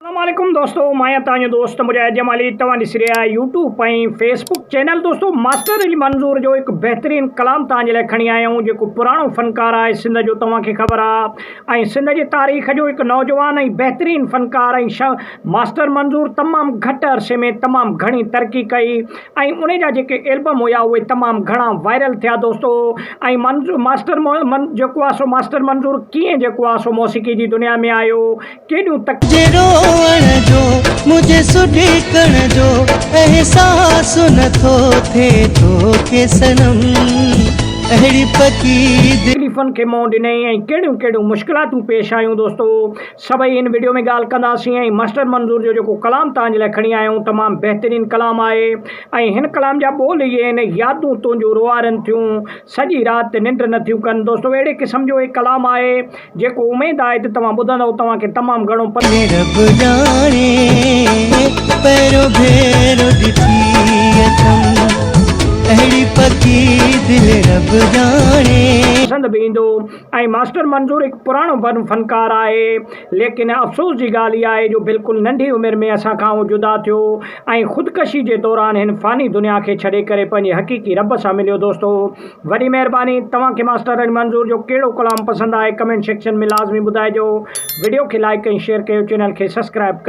السلام عليڪم دوستو مان آهيان توهان جو دوست مجاهد جمالي توهان ڏسي رهيا آهيو يوٽيوب ۽ فيسبوڪ چينل دوستو ماسٽر علي منظور جو هڪ بهترين ڪلام توهان جي لاء کڻي آيا آهيون جيڪو پراڻو فنڪار آهي سنڌ جو توهان کي خبر آهي ۽ سنڌ جي تاريخ جو هڪ نوجوان ۽ بهترين فنڪار ۽ شا ماسٽر منظور تمام گهٽ عرصي ۾ تمام گهڻي ترقي ڪئي ۽ ان جا جيڪي البم هيا اهي تمام گهڻا وائرل ٿيا دوستو ۽ منظور ماسٽر من جيڪو آهي سو ماسٽر منظور ڪيئن جيڪو آهي سو موسيقي جي دنيا ۾ آيو ڪيڏو تڪ. جي روئڻ جو منهنجي سڏڪڻ جو احساس نه ٿو ٿئي توکي صنم اهڙي پڪي. تڪليفن کي منهن ڏنئي ۽ ڪهڙيون ڪهڙيون مشڪلاتون پيش آيون دوستو سڀئي ان وڊيو ۾ ڳالهه ڪنداسين ۽ ماسٽر منظور جو جيڪو ڪلام توهان جي لاء کڻي آيا آهيون تمام بهترين ڪلام آهي ۽ هن ڪلام جا ٻول اهي آهن يادون تنهنجون روئارن ٿيون سڄي رات ننڊ نه ٿيون ڪن دوستو اهڙي قسم جو هي ڪلام آهي جيڪو اميد آهي ته توهان ٻڌندؤ توهان کي تمام گهڻو پتو هي رب ڄاڻي پهريون ڀيرو ڏٺي اٿم اهڙي پڪي دل رب ڄاڻي. پسند به ايندو ۽ ماسٽر منظور هڪ پراڻو فنڪار آهي ليڪن افسوس جي ڳالهه هي آهي جو بلڪل ننڍي عمر ۾ اسان کان هو جدا ٿيو ۽ خودڪشي جي دوران هن فاني دنيا کي ڇڏي ڪري پنهنجي حقيقي رب سان مليو دوستو وڏي مهرباني توهان کي ماسٽر علي منظور جو ڪهڙو ڪلام پسند آهي ڪمينٽ سيڪشن ۾ لازمي ٻڌائجو وڊيو کي لائيڪ ۽ شيئر ڪيو چينل کي سسڪرائب ڪيو.